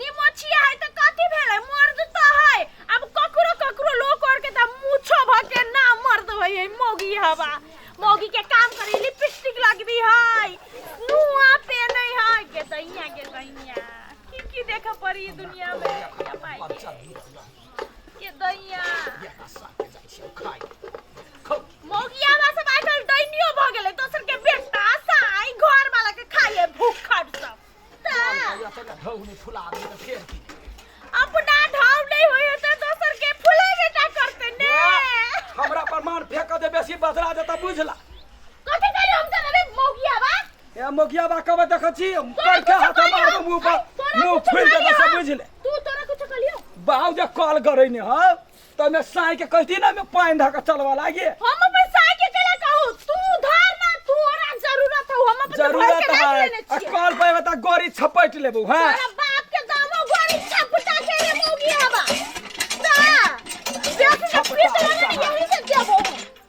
निमोछिया है तऽ कथी भेलै मर्द तऽ है अब ककरो ककरो लोग और के तऽ मूछो भ के ना मर्द होय है मौगी हवा मौगी के काम करे लिपस्टिक लगबी है नुआ पेने है के दैया के दैया की की देख पड़ी दुनिया में या माई के दैया मौगिया बा सब आजकल दैनियो भ गेलै दोसर के बेटा साई घर वाला के खाइए भूखट सब अपना ढाव नहीं होय त दोसर के फुले बेटा करते ने हमरा पर मान फेंक दे बेसी बदला देता बुझला कथि करी हम त रे मौगिया बा ए मोगिया बा कबे देख छी कर के हाथ मार दे मुंह पर मुंह फूल दे सब बुझले तू तोरा कुछ कलियो बाऊ जे कॉल करे ने हां त ओहिमे साँइ के कहती ना ओहिमे पानि धऽ कऽ चलबऽ लागे हम अपन साय के केला कहू तू उधार ना तू ओरा जरूरत हो हम अपन भर जरूरत के राख है लेने आ छियै कॉल पे बता गोरी छपट लेबू हैं तोरा बाप के दामो गोरी छपटा के रे मौगी हवा ता देख के पीस लगा यही से देबो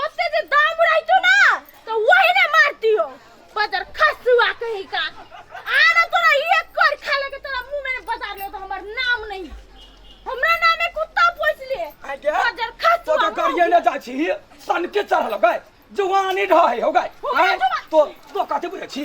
ओते जे दाम रहतो ना तो वही ने मारतियो बदर खसुआ कहीं का आना तोरा एक कर खा लेके तोरा मुंह में बता ले तो हमर नाम नहीं हमरा नाम में कुत्ता पोस ले आगे बदर तो खसुआ तो करिए न जा छी सन के चढ़ल गए जवानी ढहे हो गए आय, तो तो कते बुझे छी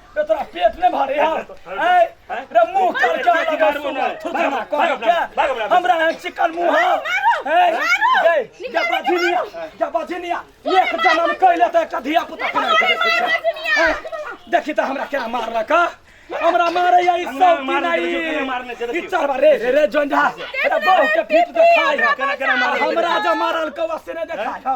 रे तोरा पेट नहि भरे हा आय रे मुंह कर के आगे मार सुना थोड़ा ना कर के हमरा है चिकन मुंह है जय जय बाधिनिया जय बाधिनिया एक जन्म कैले त एकटा धिया पुता कमाई के देखै छै आय, देखी त हमरा केना मारलक हा? हमरा मारे या ई सब की नहीं ई चढ़बा रे रे रे जोंझा रे बहु के फीट देखाय हा। हमरा जे मारल कौवा से नहि देखाय हा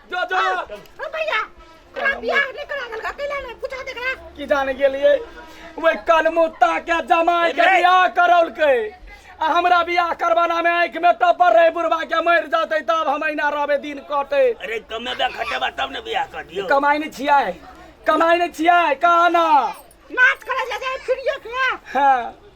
जो जो ओ भैया तोरा बियाह नहि करा देलका कैला नहि पूछा देखला की जाने गेलिए वही कलमुत्ता के जमाई के बियाह करौलकै आ हमरा बियाह करवाना में आंख में टपर रहे बुढ़वा के मर जाते तब हम अहिना रहबे दिन कटे अरे कमे बे खटेबा तब ने बियाह कर दियो कमाई नहीं छियै कमाई नहीं छियै कहा ना नाच करे जा जाए फिरियो के हाँ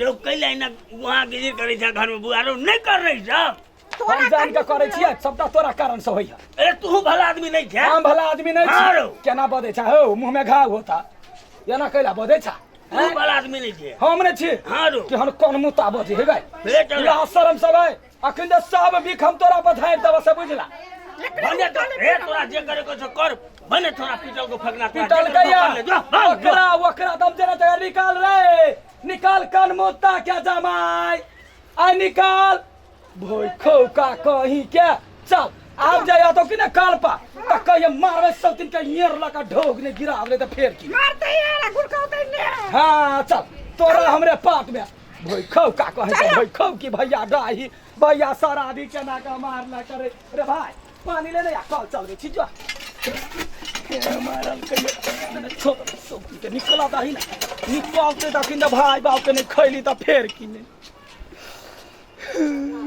रो कैला एना वहाँ गिरी करै छ घरमे बुआरो नहि करै छ तोरा हम जान के करे छियै सबटा तोरा कारण से होइया अरे तू भला आदमी नहि छै हम भला आदमी नहीं हाँ रौ। छी केना बदे छा हो मुंह में घाव होता एना कैला बदे छा तू हैं? भला आदमी नहि छै हम नहीं छी हाँ रो केहन कोन मुता बजे हे गए फेर चल। लाज शरम सब है अखन तऽ सब बिख हम तोरा पर धारि देबऽ से बुझला भने तो हे तोरा जे करे को कर भने तोरा पीटल को फगना पीटल गया ओकरा ओकरा दम देना जगह निकाल रे निकाल कान मुत्ता क्या जमाई आ निकाल भोई खो का कही के चल आब जाया तो कि ना काल पा त कहिए मारवे सब दिन के येर लगा ढोक ने गिरा दे त फेर की मारते यार गुरका उतरने हां चल तोरा हमरे पाट में भैखौ का कहै छै भैखौ कि भैया डाही भैया शराबी केना के मारला करे रे भाय पानी ले ले आ कल चलबे छी जो हे मारल कहियो छोड़ सब के निकला दाही ना निकलते दखिन भाई बाप के नहीं खैली त फेर किने